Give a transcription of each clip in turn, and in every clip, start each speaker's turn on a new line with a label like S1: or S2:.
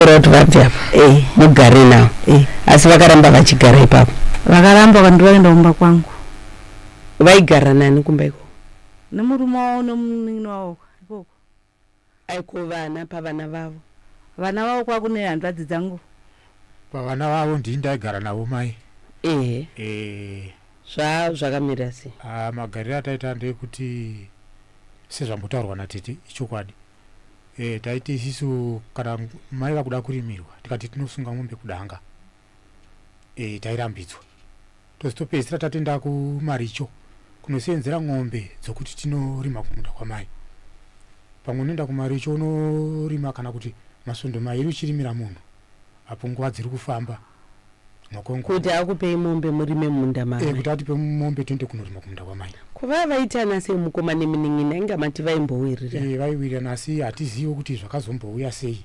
S1: Taura kuti vabve apa Eh, mugare navo eh. asi vakaramba vachigara ipapo vakaramba vandu
S2: vakaenda kumba kwangu
S1: vaigara nani kumba ikoko nemurume wavo
S2: nemunin'ina wavo ikoko aiko
S1: vana pavana vavo vana vavo
S2: kwakune hanzvadzi dzangu pavana
S3: vavo ndini ndaigara navo mai ehe Eh, zva
S1: zvakamira sei ah, magariro ataita
S3: ndeyekuti sezvambotaurwa natete ichokwadi e, taiti isisu kana mai vakuda kurimirwa tikati tinosunga mombe kudanga e, tairambidzwa tozotopedzisira tatenda kumaricho kunoseenzera ng'ombe dzokuti tinorima kumunda kwamai pamwe unoenda kumaricho unorima kana kuti masvondo mairi uchirimira munhu apo nguva dziri kufamba makongo
S1: kuti akupei mombe murime munda mai eh, kuti atipe mombe tiende
S3: kunorima kumunda kwamai kuva vaitana
S1: sei mukoma neminin'ina inga mati vaimbowirira eh, vaiwirirana asi
S3: hatizive kuti zvakazombouya sei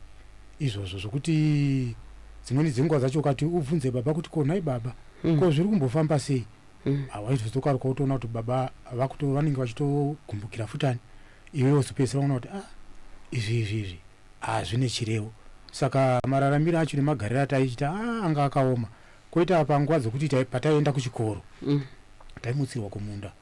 S3: izvozvo zvokuti dzimweni dzenguva dzacho ukati ubvunze baba kuti ko nhai baba mm. ko zviri kumbofamba sei mm. hawaizotokaruka ah, utoona kuti baba vakuto vanenge vachitogumbukira futani iwe wozopedzisira ona kuti ah izvi izvi izvi Haa zvine chirevo. Saka mararamiro acho nemagariro ataiita haa anga akaoma. Koita panguva dzekuti pataienda kuchikoro taimutsirwa kumunda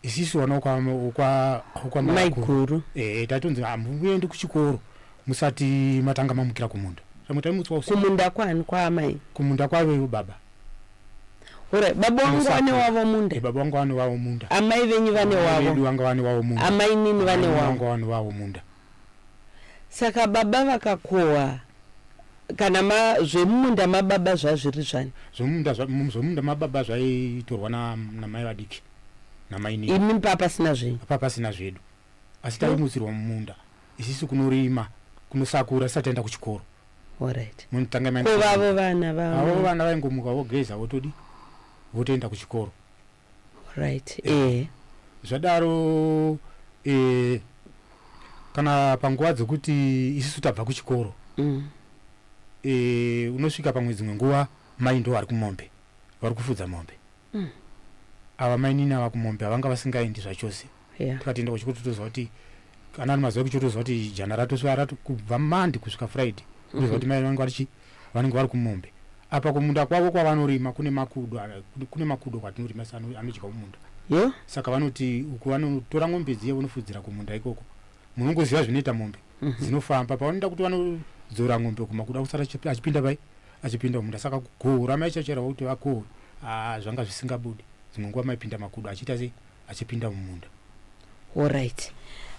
S3: isisu vana wekwaMaiguru
S1: ehe taitonzi
S3: hamuendi kuchikoro musati matanga mamukira kumunda. Pamwe taimutswa usiku. Kumunda kwani? Kwaamai?
S1: Kumunda kwaivevo baba. Hora baba wangu vane wavo munda. Baba wangu vane wavo munda.
S3: Amai venyu vane
S1: wavo. Vedu vanga vane wavo munda.
S3: Amainini vane wavo.
S1: Vanga vane wavo munda. Saka baba vakakohwa kana ma zvemumunda mababa zvazviri zvani? Zvemumunda zva, mu- zvemumunda
S3: mababa zvaitorwa na, namai vadiki namainini
S1: Imi papasina zvenyu. apa pasina zvedu
S3: asi taimutsirwa mumunda isisu kunorima kunosakura tisati taenda kuchikoro Alright.
S1: munotanga maenda Ko kuchikoro.
S3: vavo vana avo
S1: vavo vana vaingomuka
S3: vogeza votodi votoenda kuchikoro Right.
S1: Eh. Zvadaro
S3: eh kana panguva dzekuti isisu tabva kuchikoro mm. e, unosvika pamwe dzimwe nguva mai ndo vari kumombe vari kufudza mombe mm. ava mainini ava kumombe havanga vasingaendi zvachose yeah. tikatenda kuchikuru totoziva kuti kana ari mazuva ekuchikuru toziva kuti jana ratosvika rato kubva mandi kusvika friday toziva mhm. kuti mai vanenge vari chii vanenge vari kumombe apa kumunda kwavo kwavanorima kune makudo kune makudo kwatinorima sa anodya kumunda yeah. saka vanoti uku vanotora mombe dziye vonofudzira kumunda ikoko munongoziva zvinoita mombe mm -hmm. dzinofamba pavanoenda kuti vanodzora mombe kumakuda kusara achipinda pai achipinda kumunda saka kugohura maichachera vakuti vakohwe ah, zvanga zvisingabudi dzimwe nguva maipinda makudo achiita sei achipinda mumunda. Horait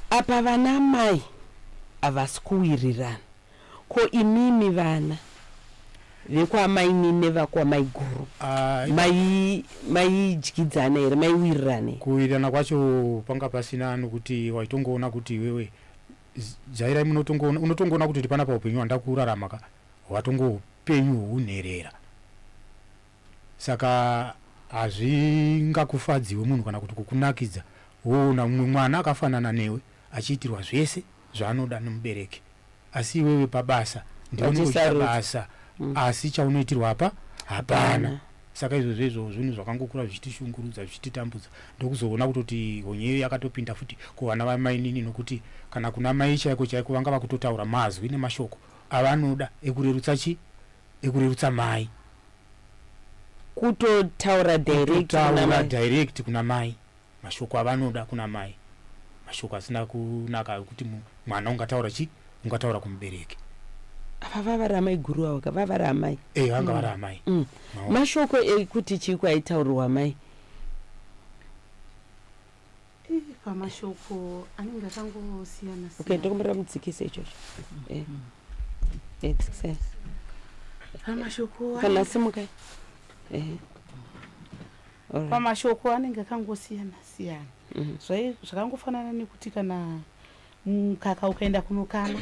S1: apa vana amai havasi kuwirirana ko imimi vana vekwaamainine vakwamaiguru maidyidzana here maiwirirana here? Kuwirirana kwacho
S3: panga pasina nokuti waitongoona kuti iwewe jairai munotongoona unotongoona kuti uri panapa upenyu hwandava kurarama ka hwatongopenyu hwounherera. Saka hazvingakufadzewo munhu kana kuti kukunakidza woona mumwe mwana akafanana newe achiitirwa zvese zvaanoda nemubereki asi iwewe pabasa ndiwe unenge uchiita basa mm. asi chaunoitirwa apa hapana saka izvo zvezvo zvinhu zvakangokura zvichitishungurudza zvichititambudza ndokuzoona kutoti honyeyo yakatopinda futi kuvana vamainini nokuti kana kuna mai chaiko chaiko vanga vakutotaura mazwi nemashoko avanoda ekurerutsa chi ekurerutsa mai
S1: kutotaura direct kuna mai kutotaura direct kuna mai
S3: mashoko avanoda kuna mai mashoko asina kunaka ekuti mwana ungataura chi ungataura kumubereki apa
S1: vavari amai guru avo ka vavari amai eh vanga vari amai
S3: mm. mashoko
S1: ekuti chii kwaitaurirwa mai
S2: pamashoko anenge akangosiyana okay ndokumbira
S1: mudzikise ichocho eh. eh, dzikisai
S2: pamashoko kana simukai eh. pamashoko anenge akangosiyana siyana mm-hmm. zvakangofanana nekuti kana Mukaka ukaenda kunokama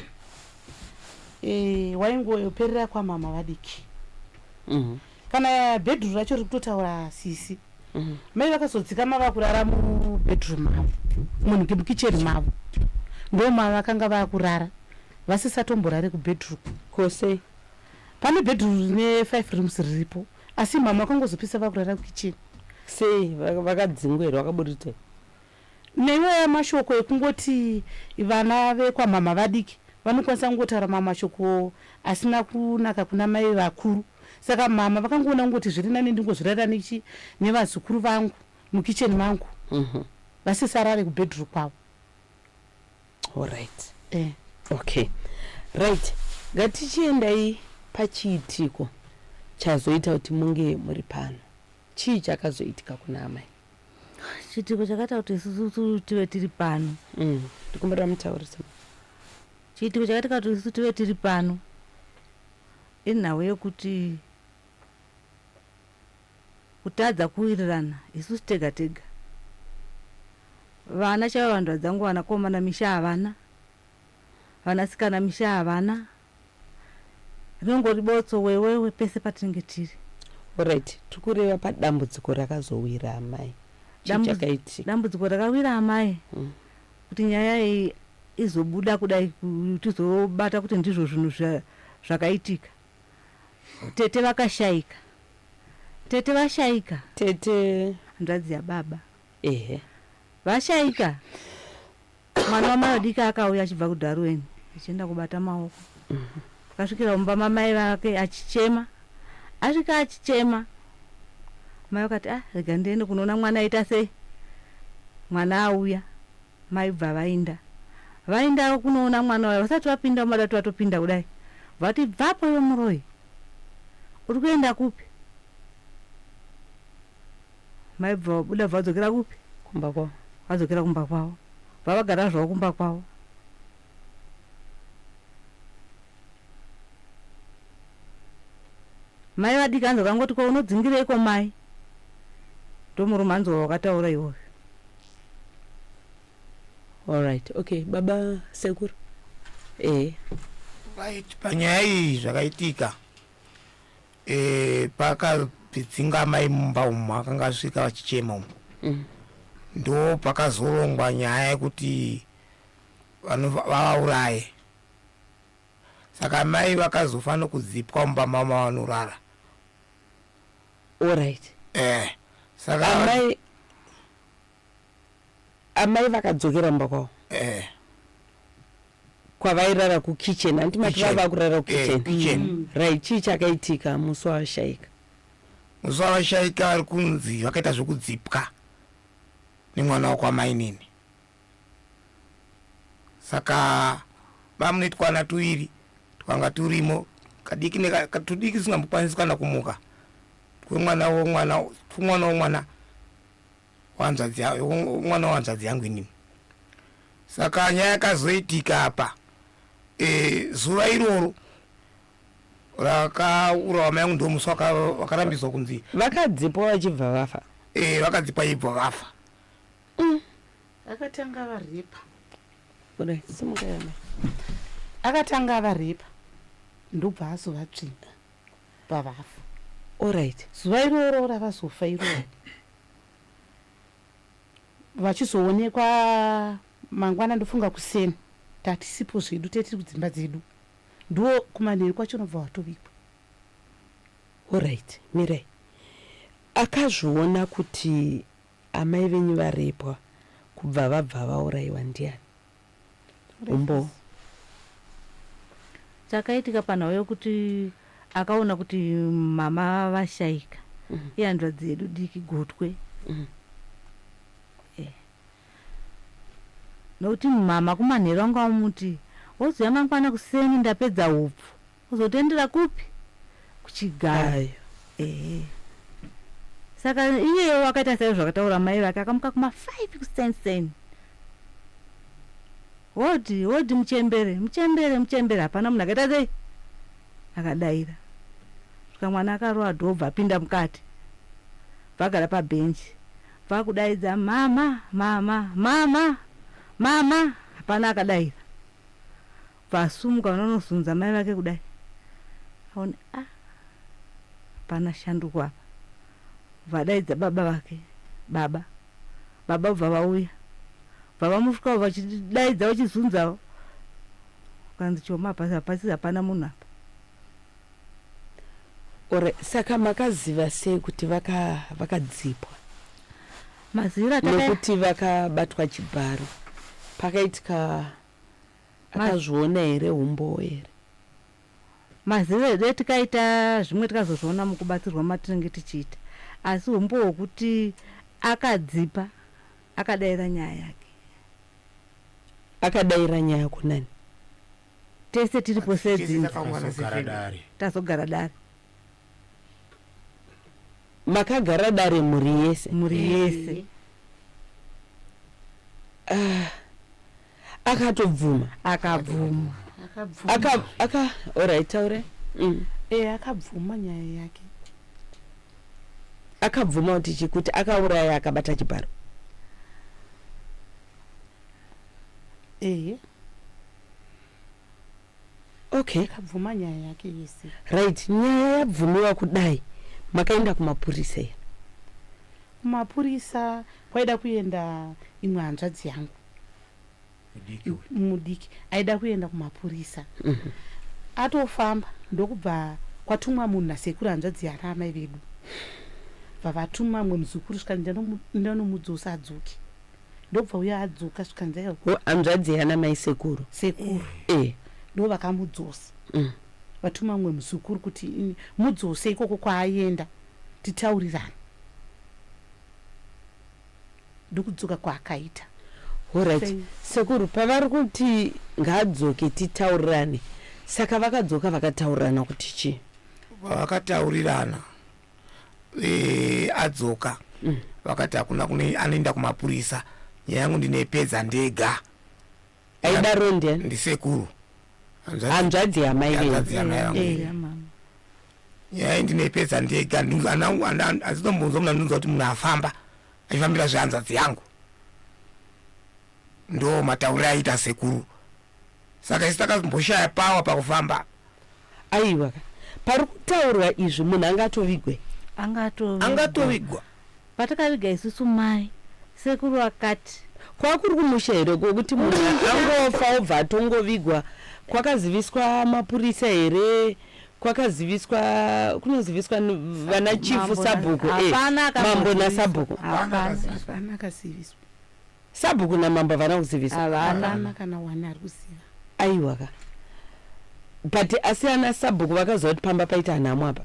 S2: eh, waingoperera kwamama vadiki mm -hmm. kana bedroom racho riri kutotaura sisi mm -hmm. mai vakazodzikama vakurara mubedroom mavo munhu mukicheni mavo ndoma vakanga vakurara vasisatomborare kubedroom kose
S1: pane
S2: bedroom rine five rooms riripo asi mama vakangozopisa vakurara kukicheni sei
S1: vakadzingwa here vakaburitei
S2: Naiwo aya mashoko ekungoti vana vekwamhamha vadiki vanokwanisa kungotaura mamwe mashoko asina kunaka kuna mai vakuru saka mhamha vakangoona kungoti zviri nani ndingozvirarira nechi nevazukuru vangu mukitchen mangu vasisarare kubedroom kwavo. Horaiti.
S1: Eh. Okay. Right. Ngatichiendai pachiitiko chazoita kuti munge muri pano. Chii chakazoitika kuna amai? Chiitiko
S4: chakaita kuti isusu tive tiri pano. Mm. Ndikumbira
S1: mutaurise.
S4: Chiitiko chakaita kuti isusu tive tiri pano inhau yekuti kutadza kuwirirana isusu tega tega. Vana chaivo vanhu vadzangu vanakomana misha havana, vanasikana misha havana. Rinongori botso wewewe pese patinenge tiri. Horaiti, tiri
S1: kureva padambudziko rakazowira amai. Chii chakaitika?
S4: Dambudziko rakawira amai kuti nyaya iyi izobuda kudai tizobata kuti ndizvo zvinhu zvakaitika. Tete vakashaika. Tete vashaika. Tete?
S1: Hanzvadzi yababa.
S4: Ehe. Vashaika. mwana wamai vadiki akauya achibva kudharuweni achienda kubata maoko akasvikira mumba mamai vake achichema asvika achichema mai vakati ah rega ndiende kunoona mwana aita sei mwana auya mai bva vainda vainda kunoona mwana waya vasati vapinda mumada kuti vatopinda kudai vati bvapo iwe muroyi uri kuenda kupi Maibva vabuda vadzokera kupi? Kumba kwavo.
S1: Vadzokera kumba kwavo.
S4: Vavagara zvavo kumba kwavo. Mai vadiki hanzi vakangoti ko unodzingireiko mai? Ndomurume hanzi wawakataura iwoyo.
S1: All right. Okay, baba sekuru. Eh. Right,
S5: panyaya iyi zvakaitika. e, pakapidzinga amai mumba umu akanga asvika vachichema umu mm. ndo pakazorongwa nyaya yekuti vavauraye va, saka mai vakazofa nokudzipwa mumba mama vanorara
S1: orit eh, saka
S5: amai
S1: Amai vakadzokera mumba kwavo Eh, kwavairara kukitchen hanti mati Kitchen. vava kurara Eh, kukitchen kitchen. right chii chakaitika musi wavashaika Musi
S5: wavashaika ari kunzi vakaita zvekudzipwa nemwana wakwamainini. Saka bamune twana tuviri twanga turimo kadiki neka- ka- tudiki tusingambokwanisi kana kumuka twemwana womwana twemwana womwana wanzvadzi mwana wanzvadzi yangu inini saka nyaya yakazoitika apa e, zuva iroro rakaurawa mai yangu ndo musi wakarambidzwa kunzi vakadzipwa vachibva
S1: vafa e, vakadzipwa ibva
S5: vafa mm.
S2: akatanga varipa akatanga varipa ndobva azovatsvinda pavafa orit
S1: zuva iroro
S2: ravazofa iroro vachizoonekwa mangwana ndofunga kuseni tatisipo zvedu tee tiri kudzimba dzedu ndiwo kumanheru kwacho unobva watobikwa
S1: orit mirai akazviona kuti amai venyu varepwa kubva vabva vauraiwa ndiani Umbo.
S4: Chakaitika panhau yokuti akaona kuti mama vashaika mm. ihanzvadzi yedu diki gotwe mm. eh. nokuti mama kumanheru anga amuti wozouya mangwana kuseni ndapedza upfu Kuzotoendera kupi? Kuchigayo. Ehe. Saka iyewo akaita saizvo zvakataura mai vake akamuka kuma 5 kusenseni. Hodi, hodi muchembere, muchembere, muchembere hapana munhu akaita sei? Akadaira. Saka mwana akarowa dhoo bva apinda mukati. Vagara pabhenji. Vakudaidza mama, mama, mama, mama hapana akadaira. Paasumuka vanonozunza mai vake kudai aone ah hapana shanduko apa. Vadaidza baba vake baba baba bva vauya bva vamusvikawo vachidaidza vachizunzawo kanzi choma apa hapasi hapana munhu apa.
S1: Or saka makaziva sei kuti vaka vakadzipwa? Maziviro ataka Nekuti vakabatwa
S4: chibharo
S1: pakaitika Akazviona here humbowo here.
S4: Mazive dai tikaita zvimwe tikazozviona mukubatsirwa matinenge tichiita asi humbowo hwekuti akadzipa akadaira nyaya yake. Akadaira
S1: nyaya kunani?
S4: Tese tiripo sedzimba.
S3: Tazogara dare.
S1: makagara dare mhuri yese mhuri yese
S4: ah,
S1: akatobvuma akabvuma
S4: aka
S1: orit taure mm. e akabvuma
S2: nyaya yake
S1: akabvuma kuti chi kuti akauraya akabata chibharo ehe Okay. Akabvuma nyaya
S2: yake yese. Right, nyaya
S1: yabvumiwa kudai makaenda kumapurisa here? Kumapurisa
S2: kwaida kuenda imwe hanzvadzi yangu mudiki aida kuenda kumapurisa mm -hmm. atofamba ndokubva kwatumwa munhu nasekuru hanzvadzi yana amai vedu bva vatuma mwe muzukuru svika ndanomudzosa adzoke ndobva uya adzoka zvikanzi aiwa Ho, hanzvadzi yana mai
S1: sekuru sekuru eh
S2: ndo vakamudzosa mm. vatuma mumwe muzukuru kuti "Ini, mudzose ikoko kwaayenda titaurirane ndokudzoka kwaakaita horit
S1: Sei? sekuru pavari kuti ngaadzoke titaurirane saka vakadzoka vakataurirana kuti chii vakataurirana
S5: e, adzoka mm. vakati hakuna kune anoenda kumapurisa nyaya yangu ndinepedza ndega aidaro
S1: nde ndisekuru
S5: hanzvadzi
S1: yamai hanzvadzi yamai
S5: vangu eh, nyaya iyi ndinepedza ndega azitombonzwa muna ndinonzwa kuti munhu afamba achifambira zvehanzvadzi yangu ndo matauriro aita sekuru saka isu takamboshaya pawa pakufamba aiwa
S1: ka pari kutaurwa izvi munhu anga atovigwe
S5: angatovigwa patakaviga
S4: isusu mai sekuru akati kwakuri kumusha
S1: here kokuti munhu angofa obva atongovigwa kwakaziviswa mapurisa here kwakaziviswa kunoziviswa vana chifu sabhuku eh, mambo nasabhuku
S2: Sabhuku
S1: namambo havana kuzivisa. Havana. Hapana kana
S2: one ari kuziva. Aiwa ka.
S1: But asi ana sabhuku vakaziva kuti pamba paita nhamo apa.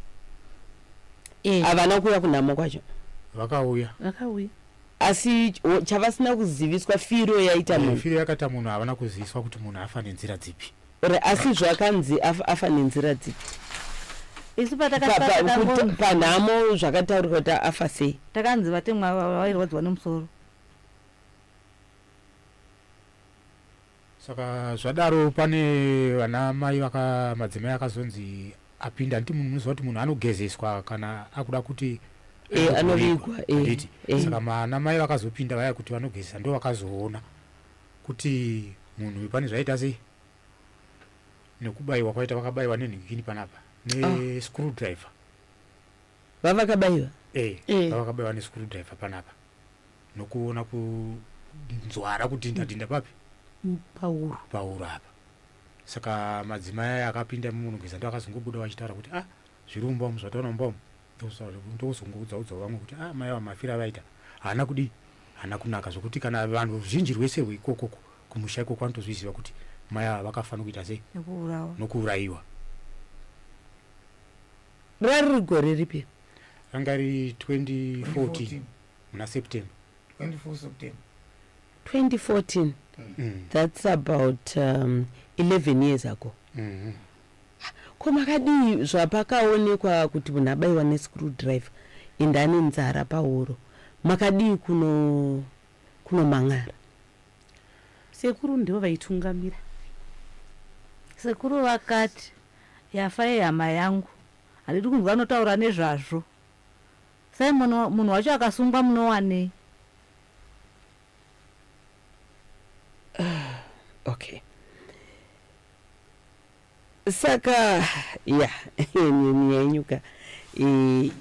S1: Eh. Havana kuuya kunhamo kwacho. Vakauya.
S3: Vakauya.
S1: Asi ch- o- chavasina kuziviswa firo yaita Eh, munhu. Firo yakaita munhu havana
S3: kuziviswa kuti munhu afa nenzira dzipi. Or asi zvakanzi
S1: af- afa nenzira dzipi. Isu
S4: Pa- pa- kuti- patakasara
S1: panhamo zvakataurwa kuti afa sei. takanzi vatemwa
S4: ava vairwadziwa nemusoro.
S3: saka zvadaro pane vana mai vaka madzimai akazonzi apinda nditi munhu munoziva kuti munhu anogezeswa kana akuda kuti Eh, anovigwa, anovigwa,
S1: eh, handiti? eh. saka
S3: vana mai vakazopinda vaya kuti vanogezesa ndo vakazoona kuti munhu uyu pane zvaita sei nekubayiwa kwaita vakabaiwa nenhingini panapa nescrew driver
S1: vavakabaiwa eh, Eh.
S3: vavakabaiwa nescrew driver panapa nokuona kunzwara kudhinda dhinda papi pahuro pahuro apa saka madzimai aya akapinda munogeza ndo akazongobuda vachitaura kuti ah zviri mumba umu zvataona mumba umu ndokuzongoudza udza vamwe kuti ah mai ava mafira avaita haana kudii haana kunaka zvokuti kana vanhu ruzhinji rwese rweikokoko kumusha ikoko vanotozviziva kuti mai ava vakafanira kuita sei nokuurayiwa
S1: Rariri gore ripi? Ranga riri 2014
S3: muna September. 24
S1: September. 2014. Mm. That's about um, 11 years ago. Mm -hmm. Ko makadii zvapakaonekwa kuti munhu abaiwa nescrewdriver ende ane nzara pahuro makadii kuno kunomang'ara?
S2: Sekuru ndivo vaitungamira.
S4: Sekuru vakat yafa yehama yangu handidi kunzwa anotaura nezvazvo. Simon munhu wacho akasungwa munowanei.
S1: Ahh ok. Saka yeah nyemhi yenyu ka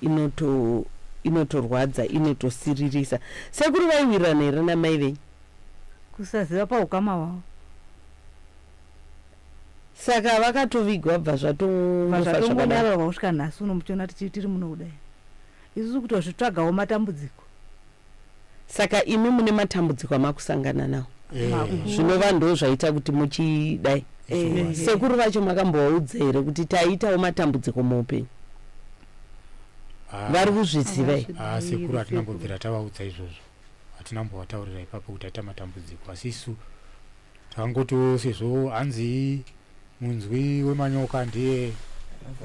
S1: inoto inotorwadza inotosiririsa. Sekuru vaiwirirana here namai venyu? Kusaziva
S4: paukama hwavo.
S1: Saka vakatovigwa bva zvatongofa zvakadaro. Zvatongodaro
S4: kusvika nhasi uno muchiona tiri muno kudai. Isusu kutozvitsvagawo
S1: matambudziko. Saka imi mune matambudziko
S4: amakusangana
S1: nawo zvinova ndo zvaita kuti muchidai. Sekuru vacho makambovaudza here kuti taitawo matambudziko muupenyu? Vari kuzviziva here? Haa sekuru hatina
S3: mbobvira tavaudza izvozvo. Hatina mbovataurira ipapo kuti taita matambudziko asi isu Hangutu sezvo hanzi munzwi wemanyoka ndiye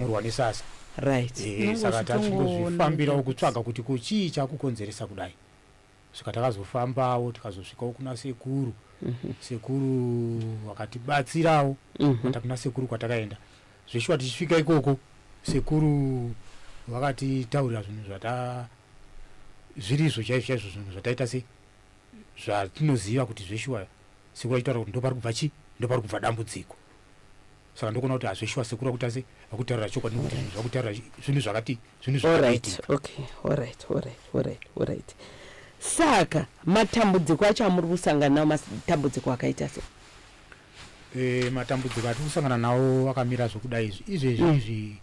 S3: murwa nesasa. Right. Ehe saka tachingozvifambirawo kutsvaga kuti ko chii chakukonzeresa kudai. Svika takazofambawo tikazosvikawo kuna sekuru. Mm -hmm. Sekuru vakatibatsirawo. Mm -hmm. Kuna sekuru kwatakaenda. Zveshuwa tichisvika ikoko sekuru vakatitaurira zvinhu zvata zvirizvo chaizvo chaizvo zvinhu zvataita sei zvatinoziva kuti zveshuwa sekuru vachitaura kuti ndopari kubva chii ndopari kubva dambudziko saka ndokuona kuti hazveshuwa sekuru vakuita se vakutaurira chokwadi nekuti zvinhu zvakutaurira zvinhu zvakati zvinhu zvakaitika
S1: saka matambudziko acho amuri kusangana nawo matambudziko akaita se e, matambudziko
S3: atiri kusangana nawo akamira zvokudai izvi izvezvi mm. izvi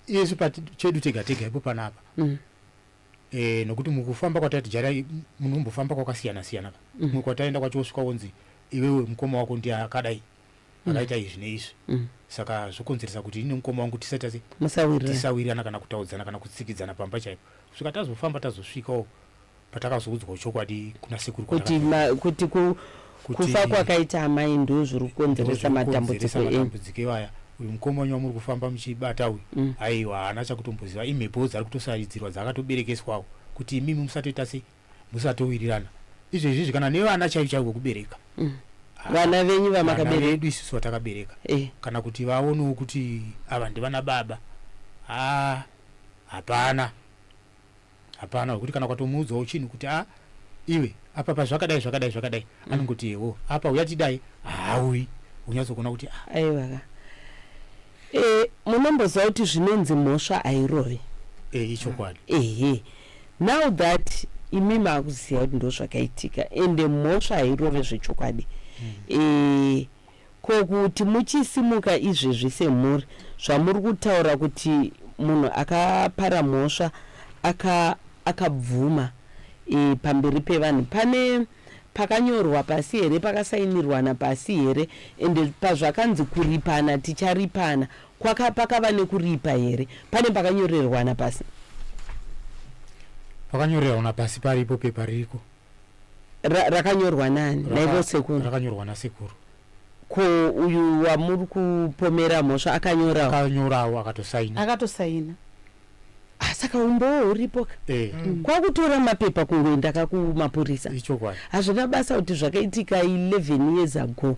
S3: isu chedu tega tega ipo panapa mm. eh, nokuti mukufamba kwatati jara munhu umbofamba kwakasiyana siyana ka mm. mwe kwataenda kwacho wosvika wonzi iwewe mukoma wako ndiye akadai mm. akaita izvi neizvi mm. saka zvokonzeresa kuti ini mukoma wangu tisati tisawirirana kana kutaudzana kana kutsikidzana pamba chaipo svika tazofamba tazosvikawo patakazoudzwa chokwadi kuna sekuru kuti
S1: kuti kufa kwakaita amai ndoo zviri kukonzeresa matambudziko enyu iwaya
S3: uyu mukomana wamuri kufamba muchibata uyu mm. aiwa haana chakutomboziva imhepowo dzari kutosaridzirwa dzakatoberekeswawo kuti imimi musatoita sei musatowirirana izvo izvizvi kana nevana chaivo chaivo kubereka mm. ah, vana
S1: venyu vamakaberedu isusu vatakabereka
S3: eh. kana kuti vaonewo kuti ava ndivana baba ah, hapana Hapana wekuti kana ukatomuudzawo chinhu kuti a iwe apa pazvakadai zvakadai zvakadai mm. anongoti yewo apa uya tidai hauyi unyatsokuona kuti a ah. aiwa ka
S1: e, munomboziva kuti zvinonzi mhosva hairovi e, eh, ichokwadi
S3: ehe now
S1: that imi maakuziva kuti ndo zvakaitika ende mhosva hairove zvechokwadi mm. e, Ko kuti muchisimuka izvezvi semhuri zvamuri kutaura kuti munhu akapara mhosva aka akabvuma e, pamberi pevanhu pane pakanyorwa pasi here pakasainirwana pasi here ende pazvakanzi kuripana ticharipana kwaka pakava nekuripa here pane pakanyorerwana pasi
S3: pakanyorerwana pasi paripo pepa ririko Ra,
S1: rakanyorwa nani Raka, naivo sekuru rakanyorwa nasekuru
S3: ko
S1: uyu wamuri kupomera mhosva akanyorawo akanyorawo
S3: akatosaina akatosaina
S1: ah, saka umbowo uripo ka eh. mm. kwakutora mapepa kungoenda ka kumapurisa ichokwadi hazvina basa kuti zvakaitika 11 years ago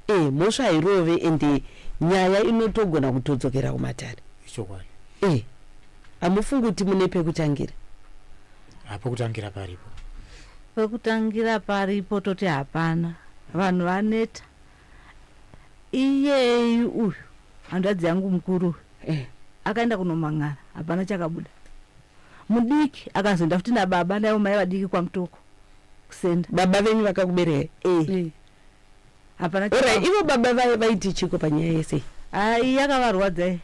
S1: eh, mhosva hairove ende nyaya inotogona kutodzokera kumatare ichokwadi eh, hamufungi kuti mune pekutangira
S3: Pokutangira paripo. Pokutangira
S4: paripo toti hapana. Vanhu vaneta. Iyeyi uyu hanzvadzi yangu mukuru uyu. Eh. Akaenda kunomhan'ara hapana chakabuda. Mudiki akazoenda futi nababa naivo mai vadiki kwamtoko kusenda. Baba venyu
S1: vakakubereka? Eh. eh.
S4: hapana Ora, chikafu. ivo
S1: baba vaye vaiti chiko panyaya yese Ai yakavarwadza
S4: iyi.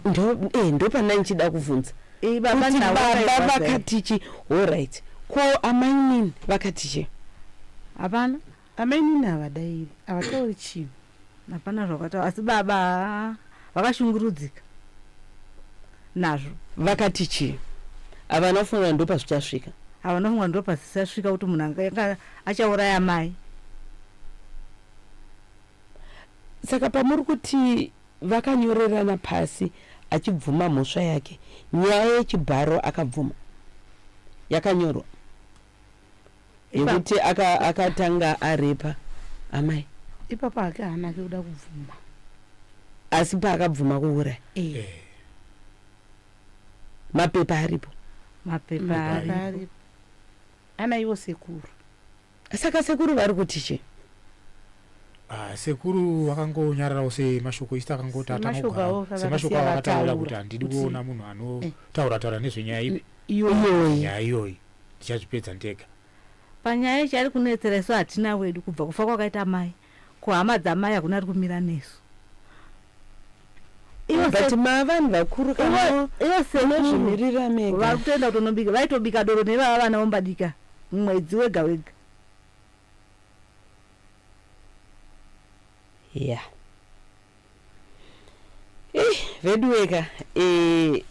S1: ndo eh, ndopana ndichida kuvhunza Iyi baba kuti ndavo baba
S4: vakairwadza iyi. vakatichi
S1: horit ko amainini vakatichi Hapana.
S2: Amainini havadairi. Havatauri chinhu. hapana zvakataura
S4: asi baba haa vakashungurudzika nazvo vakati
S1: chii havana kufunga ndo pazvichasvika havana kufunga ndo
S4: pazvichasvika kuti munhu anga achauraya mai
S1: saka pamuri kuti vakanyorerana pasi achibvuma mhosva yake nyaya yechibharo akabvuma yakanyorwa yekuti akatanga aka arepa amai ipapo hake
S2: haana ke kuda kubvuma
S1: asi paakabvuma kuuraya eh. eh. mapepa aripo mapepa
S2: aripo ana ivo sekuru saka
S1: sekuru vari kuti chii Ah, sekuru
S3: vakangonyararawo semashoko isi takangoti atangogasemashoko avo akataura kuti handidi kuona munhu anotaura taura nezvenyaya ipi iyoyi nyaya iyoyi ndichazvipedza ndega. Panyaya iyi
S4: chari kunetsera isu hatina wedu kubva kufa kwakaita mai kuhama dzamai hakuna ari kumira nesu
S1: but mavanhu vakuru kanoezvimirira mega vari kutoenda kutonobika
S4: vaitobika doro nevava vana vombadika mwedzi wega wega
S1: ya yeah. Hey, veduweka eh,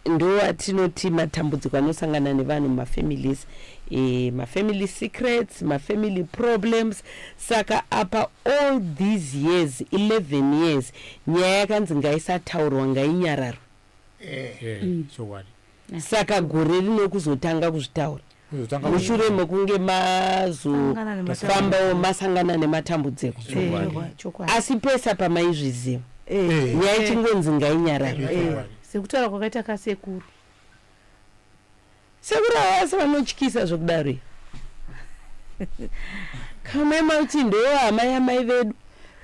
S1: ndo atinoti matambudziko anosangana nevanhu mumafamilies eh, mafamily secrets mafamily problems saka apa all these years 11 years nyaya yakanzi ngaisataurwa ngainyararwe eh, eh, mm. saka gore rino kuzotanga kuzvitaura mushure mekunge mazofambawo masangana nematambudziko asi pesa pamaizviziva nyaya ichingonzi ngainyarari sekutaura kwakaita
S2: kasekuru
S1: sekuru avasi vanotyisa zvekudaro kamema kuti ndohama yamai vedu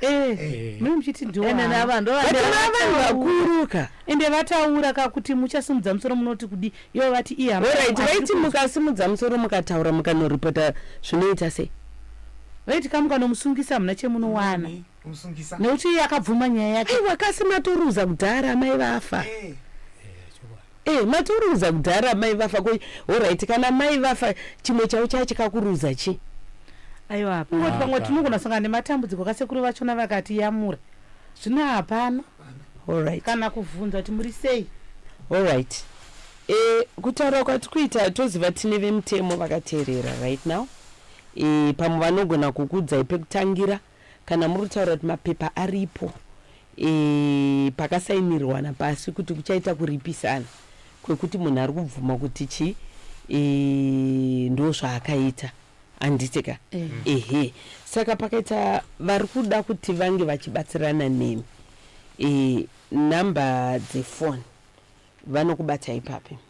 S1: Eh, eh.
S2: muri muchiti ndivanhu
S1: vakuruka ende vataura
S2: ka kuti muchasimudza musoro munoti kudi ivo vati ihaorit vaiti
S1: mukasimudza musoro mukataura mukanoripota zvinoita sei vaiti ka
S2: mukanomusungisa hamuna chemunowana nekuti iye akabvuma nyaya yake aiwa kasi matoruza
S1: kudhara amai vafa eh. Eh matoruza kudhara mai vafa ko horaiti kana mai vafa chimwe chavo chaya chikakuruza chi aiwa hapana
S2: Kungoti pamwe tinogona sangana nematambudziko kasekuru vachona vakatiyamura zvino hapana horaiti kana
S1: kuvhunza kuti
S2: muri sei horaiti
S1: e, kutaura kwati kuita toziva tine vemutemo vakateerera right now e, pamwe vanogona kukuudzai pekutangira Kana muri kutaura kuti mapepa aripo e, pakasainirwana pasi kuti kuchaita kuripisana kwekuti munhu ari kubvuma kuti chii e, ndo zvaakaita handiti ka eh. ehe saka pakaita vari kuda kuti vange vachibatsirana nemi e, nhamba dzefoni vanokubata ipapi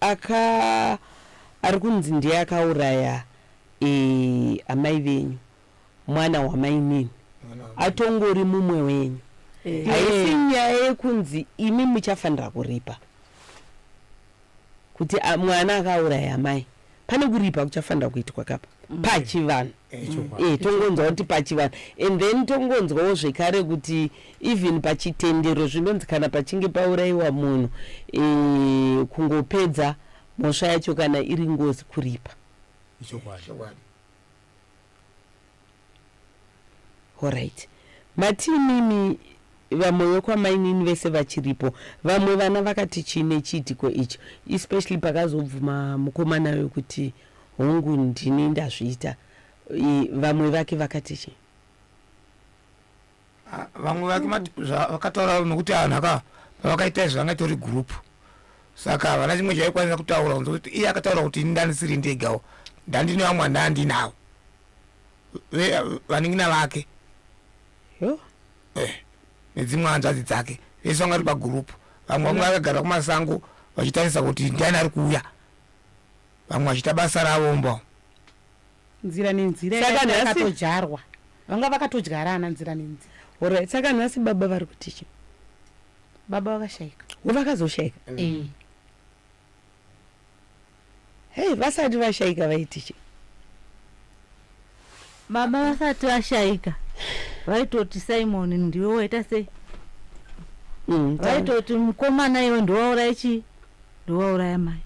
S1: Aka ari kunzi ndiye akauraya amai venyu mwana wamainini atongori mumwe wenyu eh. haisi nyaya yekunzi imi muchafanira kuripa kuti mwana akauraya amai pane kuripa kuchafanira kuitwa kapa mm. pachivanhu e, tongonzwa kuti pachivanhu and then tongonzwawo zvekare kuti even pachitendero zvinonzi kana pachinge paurayiwa munhu e, kungopedza mhosva yacho kana iri ngozi kuripa Horait. Mati imimi vamwe vekwamainini vese vachiripo vamwe vana vakati chii nechiitiko icho especially pakazobvuma mukomana uyo kuti hongu ndini ndazviita I, vamwe vake vakati chii
S5: Ah, vamwe vake mati- zva- vakataura nokuti anhu aka pavakaita izvi vanga itori group saka havana chimwe chaikwanisa kutaura kunze kuti iye akataura kuti ini ndandisiri ndegawo ndandine vamwe vandandinawo vanin'ina vake eh, nedzimwe hanzvadzi dzake vese vanga vari pagurupu vamwe vanga vakagara kumasango vachitarisa kuti ndiani ari kuuya vamwe vachiita basa ravo mbo
S2: nzira nenzira yakatodyarwa vanga vakatodyarana nzira nenzira orit saka nhasi
S1: baba vari kutichi
S2: baba vakashaika vakazoshaika mm.
S1: eh. Hey, vasati vashaika vaiti chii?
S4: Mama vasati vashaika vaitoti Simon ndiwe waita sei? Mm, vaitoti mukomana iwe ndiwauraya chii? Ndiwauraya mai.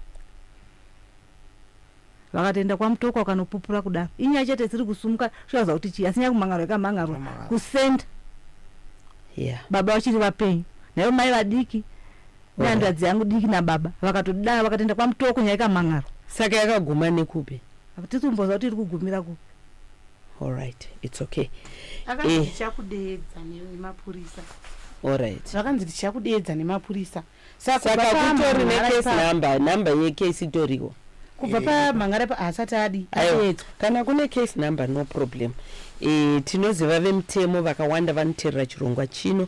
S4: Vakatoenda kwamutoko wakanopupura kudaro. Inyaya chete dziri kusumuka zvichaza kuti chii? Asi nyaya kumhangarwa ikamhangarwa kusenda. Yeah. Baba vachiri vapenyu. Naivo mai vadiki nehanzvadzi yangu diki nababa vakatodaro vakatoenda kwamutoko nyaya ikamhan'arwa saka yakaguma
S1: nekupi hatisi kumboziva kuti iri
S4: kugumira kupi allright
S1: its okay Eh. akanzi ndichakudeedza
S2: nemapurisa allright
S1: zvakanzi ndichakudeedza
S2: nemapurisa saka saka kubva pa
S1: kutori Mhan'ara necase ipapo- number number yecase itoriwo kubva pamhan'ara
S2: ipa haasati adi Aiwa, adeedzwa kana kune
S1: case number no problem e, tinoziva vemutemo vakawanda vanoterera chirongwa chino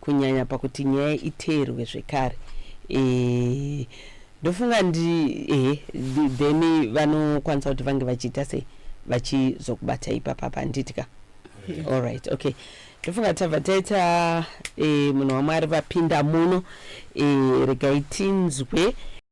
S1: kunyanya pakuti nyaya iteerwe zvekare eh, ndofunga ndi ehe then vanokwanisa kuti vange vachiita sei vachizokubata ipapa panditya all right okay ndofunga tabva taita eh, munhu wamwari vapinda muno eh, regai tinzwe